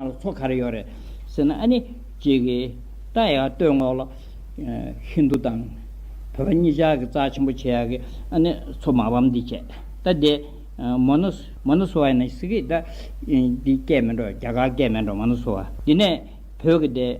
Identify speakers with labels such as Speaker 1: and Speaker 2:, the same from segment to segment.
Speaker 1: ང་ལ་ཚོགས་ག་རེ་ཡོད་རེད་ཟེར་ན་ཨ་ནི་གཅིག་གིས་རྟ་ཡག་སྟོད་ངོགས་ལ་ཧིན་རྡུ་དང་བོད་པ་གཉིས་ཅག་གི་རྩ་ཆེན་པོ་བྱེད་ཡག་གི་ཨ་ནི་ཚོ་མ་བམ་འདི་བྱེད་རྟ་འདི་མོ་ནོ་མོ་ནོ་སོ་བ་ཡིན་ན་སི་ཀི་རྟ་འདི་སྐད་མི་འགྲོ་རྒྱ་གར་སྐད་མི་འགྲོ་མོ་ནོ་སོ་བ་འདི་ནས་བོད་ཀྱི་འདི།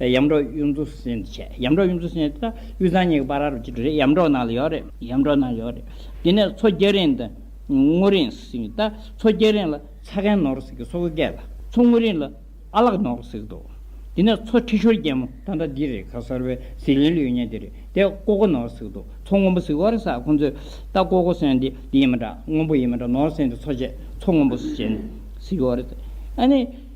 Speaker 1: ཡམ་འབྲོག་གཡུ་མཚོ་སེང་ཅེས་བྱ། ཡམ་འབྲོག་གཡུ་མཚོ་སེང་ཅེས་བྱ། གཡུ་བཟང་གཉིས་ཀྱི་པར་ར་རུ་སྐྱིད་དུ་རེད་ཡམ་འབྲོག་ནང་ལ་ཡོད་རེད། ཡམ་འབྲོག་ནང་ལ་ཡོད་རེད། དེ་ནས་མཚོ་རྒྱལ་རིང་དང། སྔོ་རིང་ཟིག་ད། མཚོ་རྒྱལ་རིང་ལ་ཚ་རྒན་ནོར་ཟིག་གི་སོ་གོ་སྐད་ལ། མཚོ་སྔོ་རིང་ལ་ཨ་ལགས་ནོར་ཟིག་འདུག། དེ་ནས་མཚོ་ཁྲི་ཤོར་རྒྱལ་མོ་ད་འདྲ་འདི་རེད་ཁ་གསར་བའི་ཟིག་ལན་ལུས་ཉེ་འདི་རེད་དེ་ཀོ་ཀོ་ནོར་ཟིག་འདུག་མཚོ་སྔོན་པོ་ཟིག་ཨོ་རེད་ས་ཁོང་ཚོས་ད་ཀོ་ཀོ་སེང་འདི་འདི་ཡིན་མ་འདྲ་སྔོན་པོ་ཡིན་མ་འདྲ་ནོར་ཟིག་འདི་མཚོ་བྱས་མཚོ་སྔོན་པོ་ཟིག་ཨོ་རེད། ཨ་ནི།